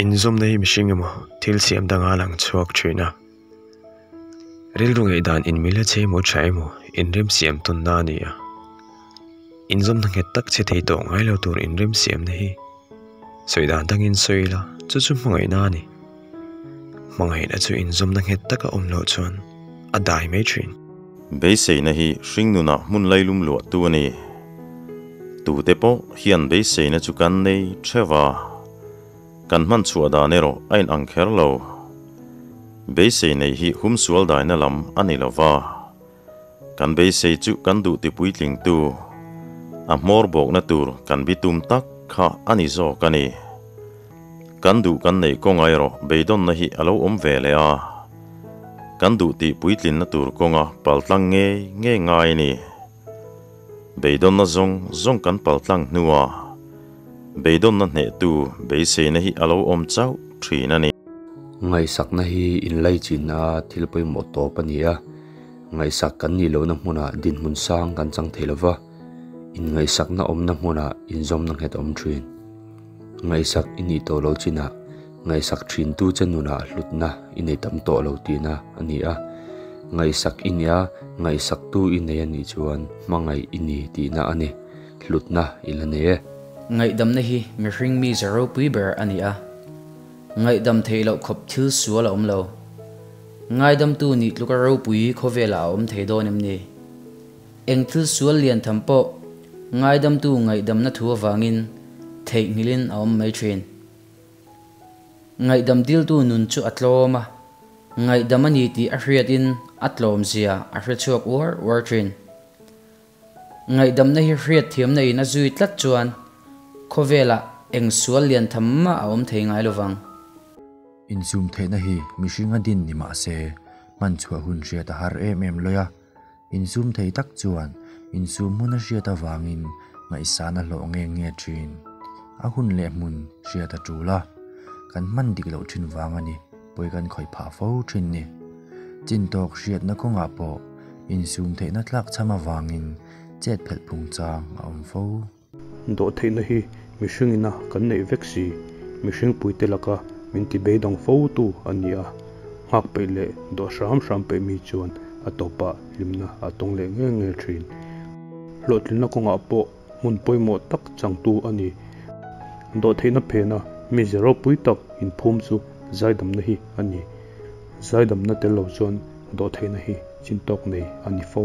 Inzawmna hi mihring emaw thil siam danga lang chhuak thin a, rilru ngaihdan inmil a chei maw tha emaw inrem siam tawnna a ni a. Inzawmna nghet tak che thei tawh ngai lo tur inrem siamna hi sawi dan dangin sawi ila, chu chu hmangaihna a ni. Hmangaihna chu inzawmna nghet taka awm loh chuan a dai mai thin. Beiseina hi hringnunah hmun lailum luahtu a ni. Tute pawh hian beiseina chu kan nei theuh a, kan hman chhuah dan erawh a inang kher lo. Beisei neih hi hum sual daina lam a ni lo va, kan beisei chu kan duh ti puitlingtu, a hmawr bawkna tur kan bi tum tak kha a ni zawk a ni. Kan duh kan neih kawnga erawh beidawnna hi a lo awm ve leh a, kan duh tih puitlinna tur kawnga pal tlang ngei ngei ngai a ni. Beidawnna zawng zawng kan pal tlang hnua beidawnna hnehtu beiseina hi a lo awm chauh thin a ni. Ngaihsakna hi inlei chinna thil pawimawh tawp a ni a, ngaihsak kan nih lohna hmunah dinhmun sang kan chang thei lo va, inngaihsakna awmna hmunah inzawmna nghet a awm thin. Ngaihsak i nih tawh lo chinah ngaihsak thintu che nunah hlutna i nei tam tawh lo tihna a ni a, ngaihsak i nia ngaihsaktu i nei a nih chuan hmangaih i ni tihna a ni, hlutna i la nei e. Ngaihdamna hi mihring mi ze ropui ber a ni a, ngaihdam theih loh khawp thil sual a awm lo. Ngaidamtu nih tluka ropui khawvela a awm thei dawn em ni? Eng thil sual lian tham pawh ngaidamtu ngaihdamna thu avangin theihnghilhin a awm mai thin. Ngaihdam diltu nun chu a tlawm a, ngaihdam a ni tih a hriatin a tlawmzia a hre chhuak uar uar thin. Ngaihdamna hi hriatthiamna in a zui tlat chuan khawvelah eng sual lian tham mah a awm thei ngai lovang. Inzumtheihna hi mihring a din ni mahse, hmanchhuah hun hriata har em em lawia Inzum thei tak chuan inzum hmuna hriat avangin ngaihsan a hlawh nge nge thin. A hun leh hmun hriat a tul a, kan hman dik loh thin vang a ni, pawi kan khawih phah fo thin ni. Chin tawk hriatna kawngah pawh inzum theihna tlak chham avangin chet phelh phungchang a awm fo. Dawh theihna hi mihringina kan neih vek si, mihring puite laka min ti beidang fo tu a ni a, nghak peih leh dawh hram hram peih mi chuan a tawpah hlimna a tawng leh nge nge thin. Hlawhtlinna kawngah pawh hmun pawimawh tak changtu a ni. Dawh theihna phena mize ropui tak inphum chu zaidamna hi a ni. Zaidamna tel lo chuan Dawh theihna hi chin tawk nei a ni fo.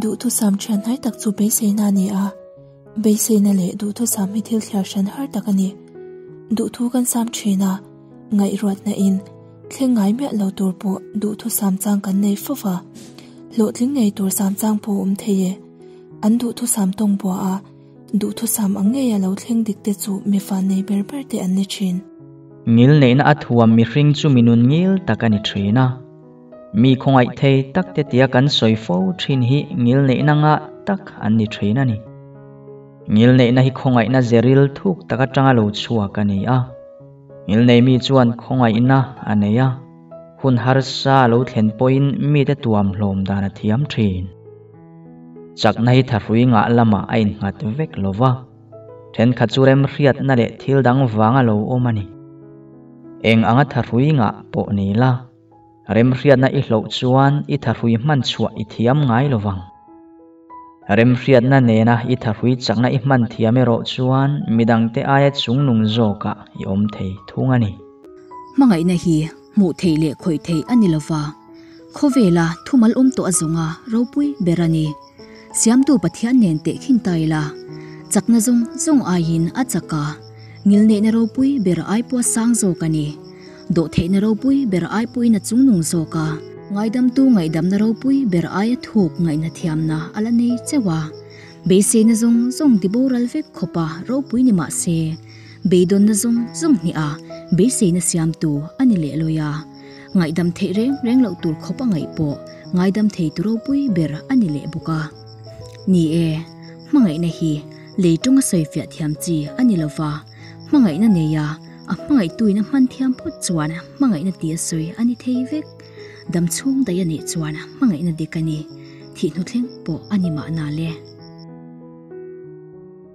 Duhthusam thian hnai tak chu beiseina a ni a. Beiseina leh duhthusam hi thil thliar hran har tak a ni. Duhthu kan sam thin a, ngaihruatna in, thleng ngai miah lo tur pawh duhthusam chang kan nei fo va. Hlawhtling ngei tur sam chang pawh a awm thei e. An duhthusam tawng bua a. Duhthusam ang ngei a lo thleng dik te chu mifa nei ber ber te an ni thin. Ngil neihna a thuam mihring chu minun ngil tak a ni thin a. Mi khawngaihthei tak te tia kan sawi fo thin hi ngil neihna ngah tak an ni thin a ni. Ngil neihna hi khawngaihna zeril thuk tak atanga lo chhuak a ni a. Ngil nei mi chuan khawngaihna a nei a, hun harsa a lo thlen pawhin mite tuamhlawm dan a thiam thin. Chaknai tha hrui ngah lama a innghat vek lo va, thenkhat chu remhriatna leh thil dang vanga lo awm a ni. Eng anga tha hrui ngah pawh nei la, remhriatna i hloh chuan i tha hrui hman chhuah i thiam ngai lo vang. Remhriatna nena i tha hrui chakna i hman thiam erawh chuan midangte aia chungnung zawkah i awm thei thung a ni. Hmangaihna hi hmuh theih leh khawih theih a ni lo va, khawvela thumalawm tawh a zawng a ropui ber a ni. Siamtu Pathian nen teh khin ta ila, chakna zawng zawng aiin a chak a, ngilneihna ropui ber ai pawh a sang zawk a ni, dawhtheihna ropui ber ai pawhin a chung nung zawk a, ngaidamtu ngaihdamna ropui ber ai a thuk ngaihna thiamna a la nei chauh a, beiseina zawng zawng tiboral vek khawpa ropui ni mah se, Beidawnna zawng zawng hnih a beiseina siamtu a ni leh lawih a, ngaihdam theih reng reng loh tur khawpa ngaih pawh ngaidam thei tu ropui ber a ni leh bawk a. Ni e, hmangaihna hi lei ṭawngah sawi fiah thiam chi a ni lova, hmangaihna neia a hmangaihtuin a hman thiam phawt chuan hmangaihna ti a sawi a ni thei vek. Dam chhung daih a nih chuan hmangaihna dek a ni, thih hnu thleng pawh a ni mah na le.